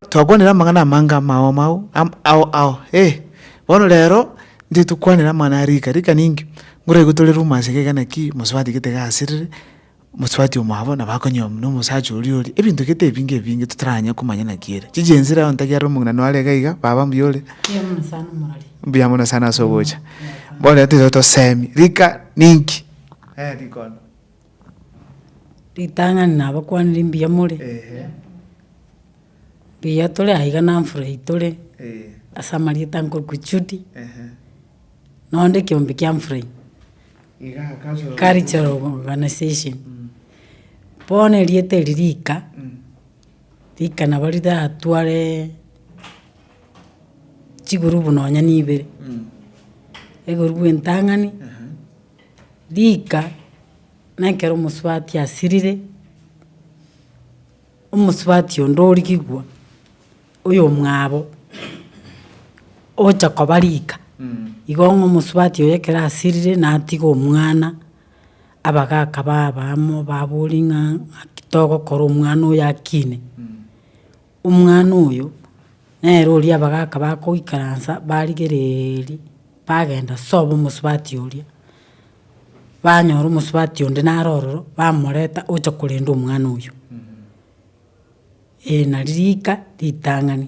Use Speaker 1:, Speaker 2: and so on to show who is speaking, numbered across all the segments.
Speaker 1: Twakwanire amang'ana amange amao amao, am- ao ao, eh. Bono rero, ntoigete kokwanera amang'ana a rika rika ninki, ngoraigwe tore rumors iga iga naki, mosubati gete iga asirire, Mosubati omwabo na bakonywa buna omosacha oria ore ebinto gete ebinge ebinge totaranya komanya naki ere. Chiji ense iraye ontake are omogina noare iga iga baba mbuya ore. Mbuya mono sana omorori. Mbuya mono sana ase ogocha. Bono tiga tosemi rika ninki eh rikondo. Ritang'ani nabakwanire mbuya more. Mbuya tore aiga na mfurahi tore. Asa amarieta nkorokwa Judy. Nonde ekiombe kia mfurahi. Cultural Organization, bono erieta eri rika, rika nabo riratware chigurubu nonya na ibere, egurubu entang'ani, rika na ekero omosubati asirire, omosubati onde origigwa. oyomwabo ogocha koba rika, igo ng'a omosubati oye ekero asirire natiga omwana, abagaka baba amo baboria ng'a ng'aki togokora omwana oyo akine. Omwana oyo, nere oria abagaka bakoikaransa barigereeria, bagenda sobo omosubati oria, banyora omosubati onde naro ororo, bamoreta ocha korenda omwana oyio. Ee nari rika ritang'ani,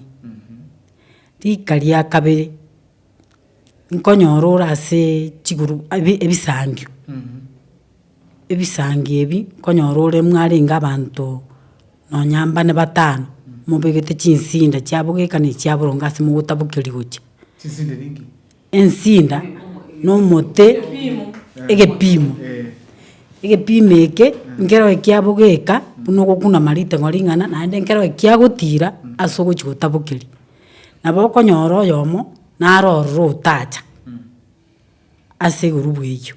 Speaker 1: rika ria kabere, nkonyora ore asee chiguru abi ebisangio, ebisangio ebi nkonyora ore mwarenge abanto nonya mbane batano, mobegete chinsinda chiabogekaneti chiaboronge ase mogotabokeria gochia. Chinsinde ninki? Ensinda, na omote, egepiimo, egepiimo eke nkero ekiabogeka buna ogokunama riteng'o ring'ana naende nkero ekiagotiira ase ogochia gotabokeria, nabo okonyora oyomo naro ororo otacha ase igoro bw'eyio.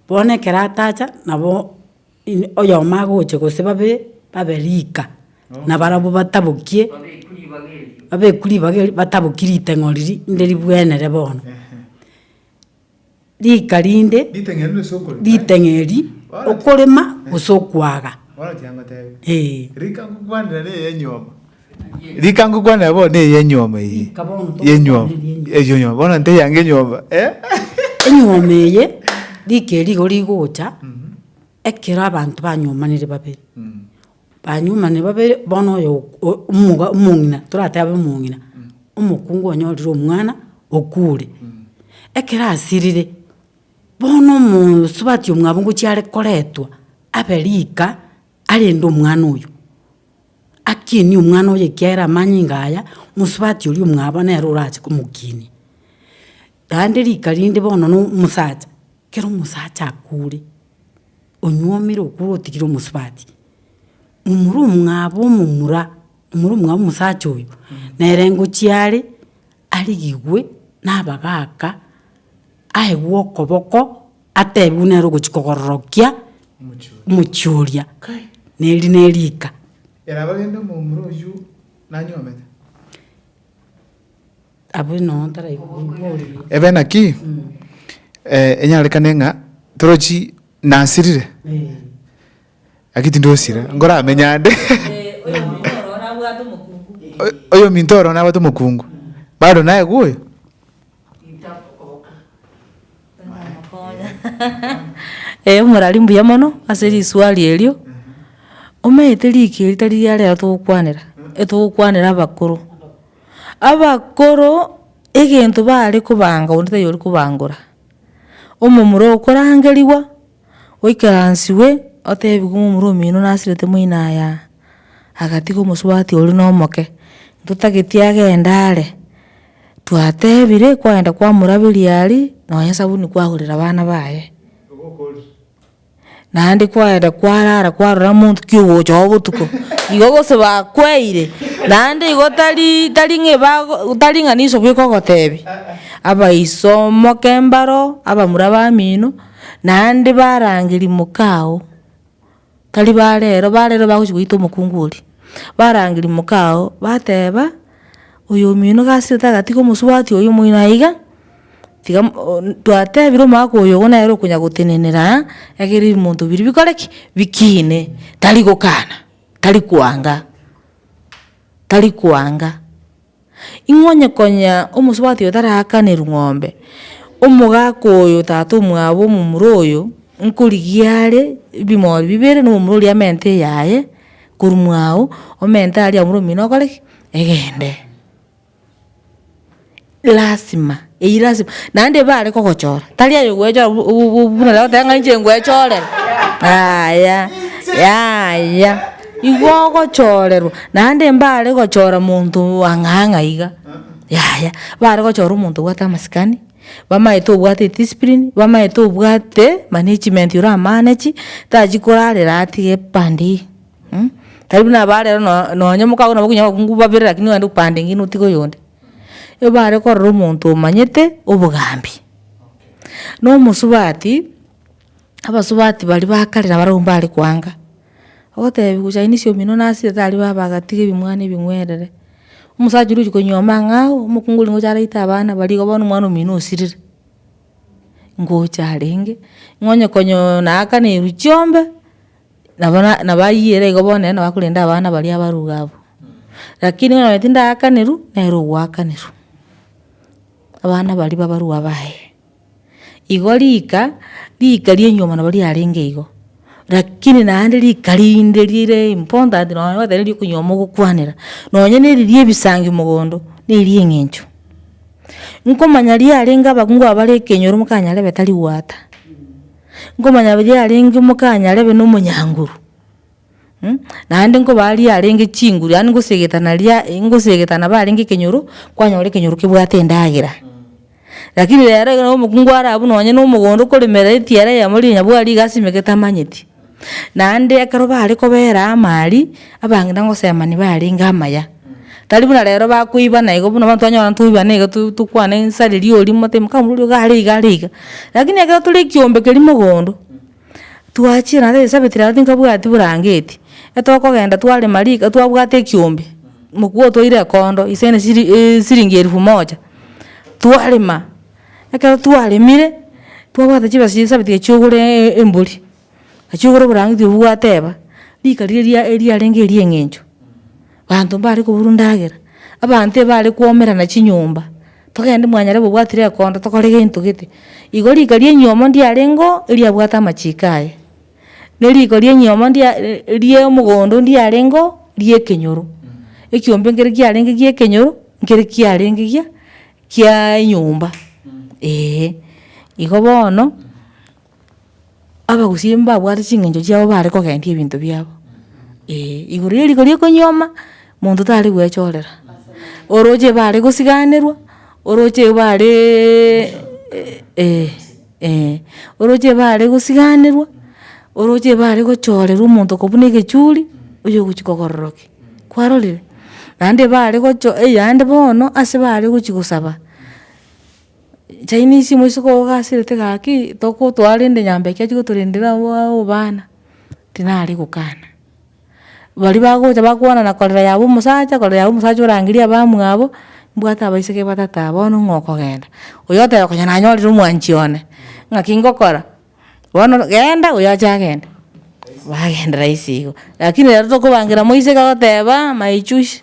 Speaker 1: Bono ekero atacha nabo. Oyomo agoche gose babe babe rika, na barabwo batabokie, babeku ribaga erio bataboki riteng'o riria inde ribwenere bono. Rika rinde, riteng'e eri okorema gose okwaga, eh. Rika ngokwane abwo ne ye nyuoma eye. Rika bono tokokwana ye nyuoma. Eye nyuoma. Bono nte yange enyuoma. Enyuoma eye rika eri igo rigocha ekero abanto banyuomanire babere. Banyuomanire babere bono oyo omoga omong'ina toratebe omong'ina. Omokungu onyorire omwana okure. Ekero asirire bono omosubati omwabo ngochia are koretwa abe rika arende omwana oyo. Akinie omwana oye ekiagera amanyinga aya, omosubati oria omwabo nere orache komokinia. Naende rika rinde bono no omosacha, kero omosacha akure, onyuomire okure otigire omosubati, momura omwabo omomura, momura omwabo omosacha oyo, nere ngochia are, arigigwe nabagaka, aegwe okoboko, Ateebigwe buna ere ogochia kogororokia omochie oria, na eri neriika. Abwo nonya taraigwa oria. Ebe naki enyarekane ng'a torochi nasirire, naki tindosira, nkoramenye ande. Oyominto ororo nabwate omokungu, bado naye gwoyo. Eeh morari mbuya mono ase risuari erio, omanyete riko eri tari riaria togokwanera, etogokwanera abakoro. Abakoro egento bare kobanga onde tari ori kobangora. Omomura okorangeriwa, oikaransiwe, otebiwe momura omino nasirete moina aya, agatiga omosubati oria nomoke, ntotagete agende are. Twatebire kwagenda kwamoraberia aria nonya esabuni kwagorera abana baye. Naende kwagenda kwarara kwarora omonto ki ogocha oo botuko igo gose bakweire naende igo tari tari ng'a ebago tari ng'a niso bweka ogotebia abaiso moke mbaro abamura bamino naende barangeria moka oo. tari barero, barero bagochia goita omokungu oria, barangeria mokao, bateba, oyo omino gasi ote agatiga omosubati oyo omoino aiga, tiga twatebire omogaka oyo igo nere okonya gotenenera aa, egere ebinto biria bikore ki? Bikine, tari gokana, tari koanga, tari koanga. Ing'o onye konya omosubati oyo taraakanirwe ng'ombe, omogaka oyo tata omwabo omomura oyo, nkorigia are ebimori bibere na omomura oria amente eyaye, korwa mwago, omente aria omomura omino okore ki? Egende. Lasima. Eyio lasima, naende ibe are kogochora, tari aye ogwechora bu- bu- bu- buna naye ogoteba ng'a inche ngwechorere, yaya yaya, igo ogochorerwa, naende mbare gochora monto ang'e ang'e iga, yaya, mbare gochora omonto obwate amasikani, bamaete obwate ediscipline, bamaete obwate management ore amanechi, tachi korarera atige pande eye, tari buna aba rero no- nonye mokago nabo okonye abakungu babere lakini ogende opande engine otige oyonde. ebare korora omonto omanyete obogambi. No omosubati, abasubati baria ba kare nabare abwo mbare koanga, ogotebiwa chainisi omino nasire tari baba agatiga ebimwana ebing'werere. Omosacha oria ochi konywa amang'ao, omokungu oria ngocha araite abana baria igo bono omwana omino osirire, ngocha arenge, ng'o onye konya naakana eruchio mbe. Nabo na nabayiere igo bono nere nabakorenda abana baria abaruga abwo, rakini bono nonye tindagakanirwa, nere ogoakanerwa, abana baria ba abarwa baye. Igo rika, rika ria enyuoma nabo riarenge igo, rakini naende rika rinde rire important nonye goeta riri okonyuoma mogokwanera, nonye na eri ria ebisangi mogondo, na eria eng'encho. Nkomanya riarenge abakungu aba bare ekenyoro mokanyarebe tari goata. nkomanya baria yarenge omokanya arebe na omonyanguru, mh, naende nkoba aria yarenge chinguru yaani ngosegeta naria e- ngosegeta nabo arenge ekenyoro, kwanyora ekenyoro kebwate endagera. Lakini rero ekero omokungu arabu nonye na omogondo okoremera etiara eyemo riria nyabwari iga asime getamanyeti. Naende ekero bare kobera amaari, abang'ina ngosemani barenge amaya. Tari buna rero bakoibana igo buna bono twanyora ntoibana iga to- tokwane ng'insa riria oria omote ime kaka omoruoti oyo are iga are iga. Rakini ekero tore ekiombe keria mogondo, twachire naende agesabeti rero tinkabwati burangeti, etogokenda twarema riko twabwate ekiombe, mokubua otwaire ekondo ase na esiri esiringi elfu moja, twarema, ekero twaremire, twabwate chibesa chia esabeti echiagura embori. Achia kogora oborang'iti obwo gwateba, rika riria eriarenge erieng'encho, banto mbare koburwa ndagera, abanto ebare kwomerana chinyomba, togende mwanyare gobwati rekondo tokore gento gete. Igo rika ria enyomo ndiarengeo eriabwate amachiko aye, ne riko ria enyomo ndia ria omogondo ndiarengeo ria ekenyoro, ekiombe nkere kiarenge gia ekenyoro, nkere kiarenge gia kiaa enyomba, eeh. Igo bono, Abagusii mbabwate ching'encho chiabo bare kogendia ebinto biabo, ee, igoro ya riko ria okonyuoma, monto tare goechorera, oroche bare gosiganerwa, oroche bareeee ee, ee, oroche bare gosiganerwa, oroche bare gochorerwa omonto ko buna egechuri, oyo ogochia kogororokia, kwarorire? Naende bare gocho eyande bono ase bare gochia gosaba. Chinese moisiko ogasirete gaki tokotoa rende nyomba eke achi gotorendera abaa obana, tinare gokana. Baria bagocha bakwana na korera yabo omosacha korera yabo omosacha orangeria abamwabo, mbwate abaiseke batato aba bono ng'a okogenda. Oyo oteba konya nanyorire omwanchi one, ng'aki ngokora, bono genda oyo ache agende, bagendera ase igo. Rakini rero tokobangera moiseke agoteba my chusi.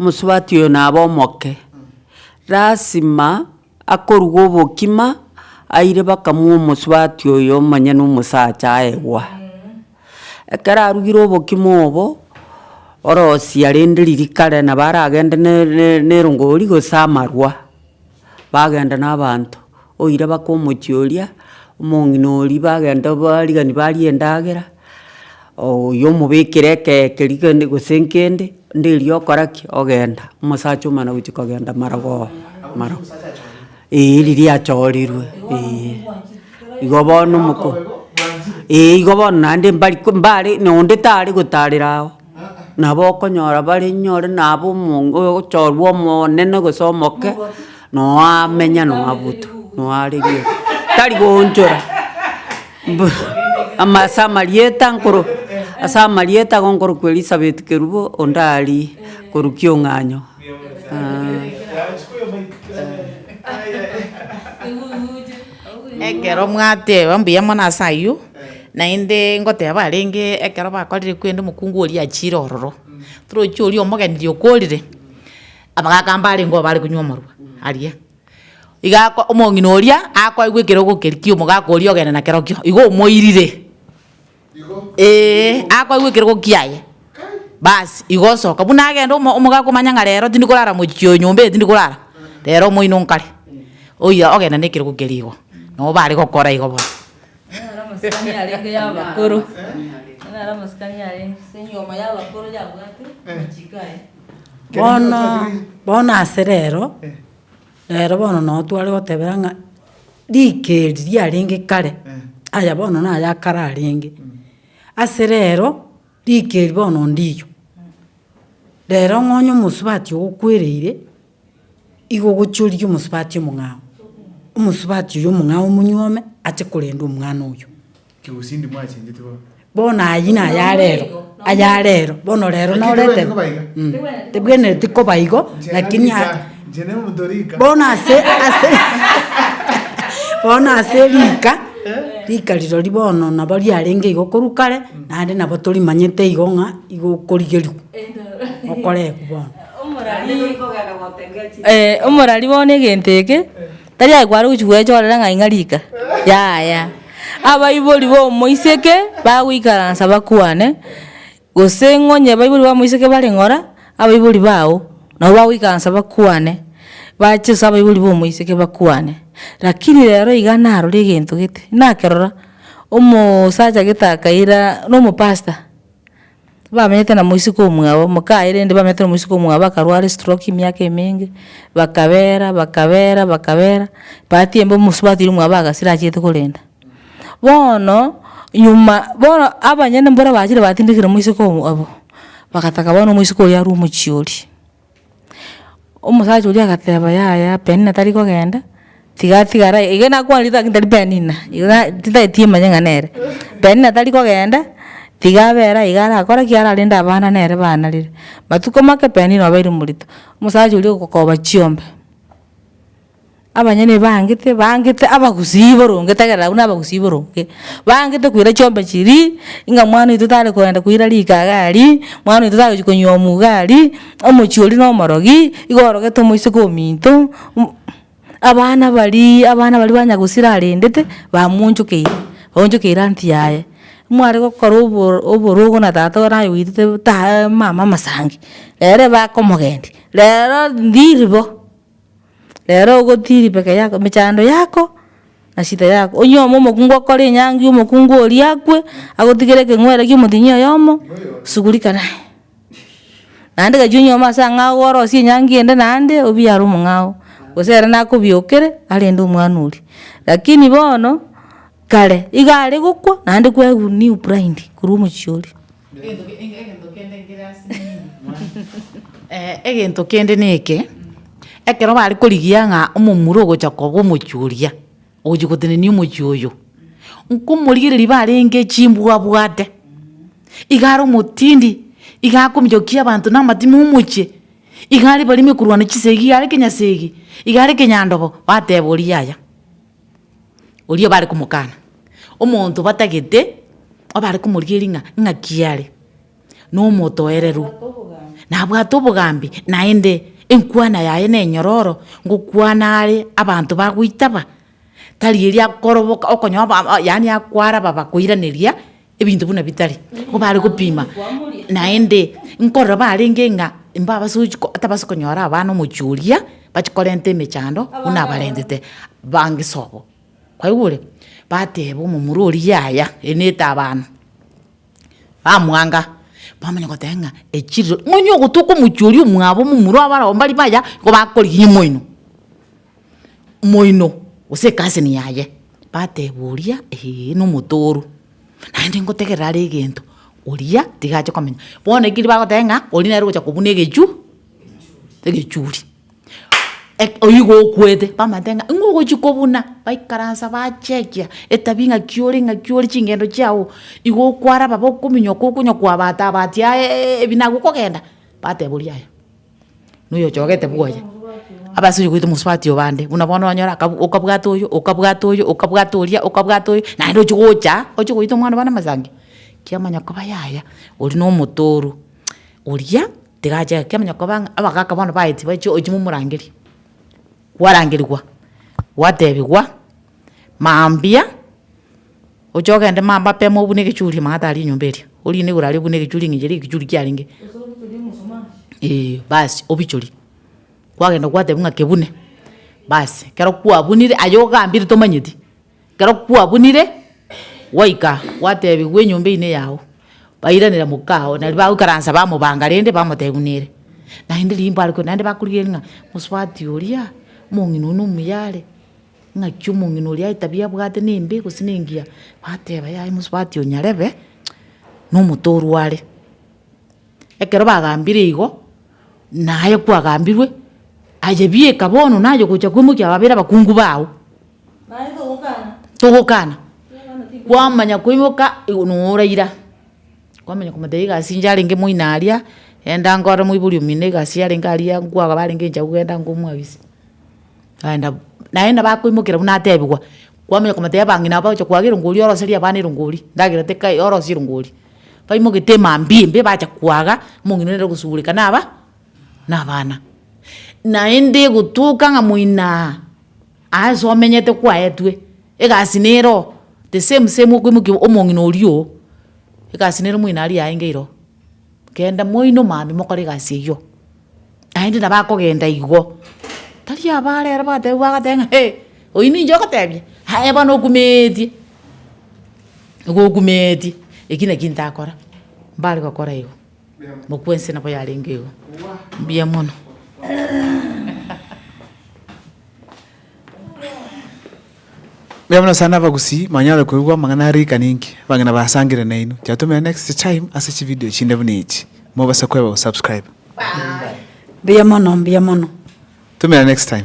Speaker 1: Omosubati oyo nabe omoke. Lasima akoruga obokima, aire bakamua omosubati oyo omonyene omosacha aegwa. Ekero arugire obokima obo, orosie arende ririkare nabo aragende ne- ne- nerongori gose amarwa. bagenda nabaanto, oira baka omochie oria, omong'ina oria bagenda barigani barie endagera, oyio omobekere ekee keria kende gose nkende, nderio okora ki? Ogenda, omosacha omana gochia kogenda marogoo marog eeh riria yachorirwe eeh. Igo bono omoko eeh igo bono naende mbari ko mbare na onde tare gotarera ao. Nabo okonyora bare inyore nabo omonge ogochorwa omonene gose omoke, noamenya noabuto, noarigia tari goonchora mbu ama ase amarieta nkoro ase amarieta igo nkorokwa Elisabeth Kerubo onde aria korwa Kiong'anyo. Ekero mwateba mbuya mono ase ayio. naende ngoteba arenge ekero bakorire kwende omokungu oria achiire ororo, torochi oria omogeni riria okorire, amagaka mbare nigo bare konywa omorwa aria, iga ako omong'ina oria akoigwa ekero ogokeri kia omogaka oria ogenda na kerokio, igo omoirire eeh, akoigwa ekero gokia aye, bas igo osoka buna agenda omo omogaka omanye ng'a rero tindi korara mochie oyo nyomba eye tindi korara, rero omoino nkare, oyo ogenda na ekerogo keria igo, nabo bare gokora igo bono. Bono, bono ase rero, rero bono nabo tware gotebera ng'a rika eri riarenge kare, aya bono naye akare arenge. Ase rero, rika eri bono ndiyo, rero ng'a onye omosubati ogo okwereire. Igo gochiorigwe omosubati omong'ao, omosubati oyo omong'ao omonyuome ache korenda omwana oyio. Kegusindi mwachenchete bono. Bono ayio naye arero, aye arero, bono rero naro Lakini tebwenereti koba iga. Mh, tebwenereti koba igo, Inche lakini a- rika, inche ne omonto rika. bono ase ase bono ase rika, rika rirori bono nabo riarenge igo korwa kare, naende nabo torimanyete igo ng'a igo okorigerigwa, okorekwa bono. omorari bono egento eke tari aye kware gochi gwechoorera ng'a ing'a rika, yaya. Abaibori b'omoiseke bagoikaransa bakwane, gose ng'onye abaibori b'omoiseke bare ng'ora, abaibori bao nabo bagoikaransa bakwane, bache ase abaibori b'omoiseke bakwane. Rakini rero iga narorire egento gete, nakerora, omoosacha gete akaira, na omopastor. Bamenyete na moiseke omwabo, mokaye rende bamenyete na moiseke omwabo akarwara estroki emiaka emenge, bakabera, bakabera, bakabera, bahati embe omosubati oria omwabo agasira achiete korenda. Bono, nyuma bono abanyene mbore bachire batindekire moiseke obo, bagataka bono omoiseke oria arwe omochie oria. Omosacha oria agateba yaya penina tari kogenda tiga atigare aye iga nakwanire lakini tari penina iga titageti manye ng'a nere penina tari kogenda tiga abere aye iga arakore ki ararende abana nere banarire matuko make penina obeire morito omosacha oria ogokoba chiombe. Abanyene baangete baangete abagusii boronge tegerera abwo nabagusii boronge, baangete koira chiombe chiria, ng'a mwana oito tare kogenda koira rikaga aria, mwana oito tagochi konywa omuga aria, omochie oria na omorogi, igo orogete omoiseke ominto, mm abana baria abana baria ba nyagusira arendete, bamonchokeire, baonchokeire anti yaye, mware gokora oboro oborogo na tata oye naye oitete taaa mama amasangi, ere bakomogendia, rero ndiri bo. Rero ogotiiri peke yako emechando yako na shida yako onyioma omokungu okore enyangi omokungu oria akwe agotigere ekeng'were kia omotienyi oyomo shughulika naye naende gachia onyioma ase ang'ao orosie enyangi ende naende obiare omong'ao gose ere nakobiokere arende omwana oria lakini bono kare iga are gokwa naende kwaigu new bride korwa omochie oria. Egento kende neke, ekero bare korigia ng'a omomura ogocha koba omochie oria, ogochia gotenenia omochie oyo, nkomorigereria iga arenge chimbwa abwate, iga are omotindi, iga akominyokia abanto na amatima omochie, iga are barimo ekorwana chisegi, iga are kenyasegi, iga are kenyandogo, bateba oria yaya. oria bare komokana, omonto batagete abare komorigeria ng'a ng'aki are, na omotoereru, nabwate obogambi, naende enkwana yaye na enyororo, ngokwana are abanto bagoitaba, tari eria akoroboka okonyora ba- ba yaani akwara babakoiraneria. Ebinto buna bitari, nigo bare gopima, naende nkorora barenge ng'a mbabasochi ko atabasa konyora abana omochie oria, bachi korenta emechando buna abarentete bangisa obo. Kwaigure? Bateba omomura oria yaya, eri ne etabana, bamwanga, bamanya goteba ng'a echiriro, nonya ogotoka omochie oria omwabo omomura obo barabwo mbari baya, nigo bakorigia omoino. Omoino, gose ekasini yaye, bateba oria, Ee, nomotooru, naende ngotegerera are egento, oria tiga ache komenya. Bono eki erio bagoteba ng'a oria nere ogocha kobuna egechu egechuri. Eki oyigo okwete, bamanyete ng'a nigo ogochi kobuna, baikaransa bachekia etabia ng'aki ore ng'aki ore chingendo chiago, igo okwaraba bokominyoka okonywa kwabata abati aeeee ebi nagokogenda, bateba oria yaya. noyochogete bwoye, abasore goita omosubati oo bande, buna bono onyora akabu okabwata oyo, okabwata oyo, okabwata oria, okabwata oyo, naende ochia gocha, ochia goita omwana bana amasangi, kiamanya koba yaya, oria na omotooro, oria tigachaka kiamanya koba ng'a abagaka bono baetie bachie ochi momorangeria, kwarangerigwa, gwatebigwa, mambia. Oche ogende mapema obune egechuria mang'ana tari enyomba eria, orinde igoro aria obune egechuria ng'a echi aria egechuria kiarenge, eeh basi obichorie. Kwagenda kwatebiwa ng'a kebune, basi ekero kwabunire aye ogambire tomanyeti, ekero kwabunire gwaika gwatebiwa enyomba eywo neyao, bairanera mokao naende bagoikaransa bamobanga rende bamotebiwa nere. Naende riimbo aria korwa naende bakorigereria ng'a mosubati oria, omong'ina oyo nomuya are. Ng'aki omong'ina oria etabia abwate nembe gose nengiya? Bateba, Yaya mosubati oo nyarebe nomotorwa are. Ekero bagambire igo, naye kwagambirwe, ayebieka bono naye ogocha kwemokia ababere abakungu bago. Togokana, kwamanya koimoka igo noraira, kwamanya komotebia egasi inche arenge moino aria, enda ngorere moibori omino egasi yarenge aria, nkwagaba arenge enchera kogenda ngomwabise. Kaenda bo, naende bakoimokera buna atebigwa, kwamanya komotebia bang'ina nabo bagocha koaga erongo oria oroserie abana erongo oria, ndagera teka orosie erongo oria. Baimogete mambia imbe bacha koaga, omong'ina nere ogosugureka naba nabana. Naende gotoka ng'a moinaa aase omenyete kwaetwe, egasi nere oo, the same same okoimokia omong'ina oria oo, egasi nere moino aria aenge iro, kenda moino mambia mokore egasi eyio. Naende nabo akogenda igwo, tari abaare ere batebiwa agateba ng'a hee, oyio ninche ogotebia? Aye bono okumeetie, nigo okumeetie, eki naki ntakora, mbare gokora igo, mokwensi nabo yarenge igo, mbuya mono. Mbuya mono sana abagusii mwanyare koigwa amang'ana a riika ninki abang'ina basangire nainwe. Chiatomera next time ase chivideo chinde buna echi mobase koeba go subscribe. Mbuya mono mbuya mono. Tumera next time.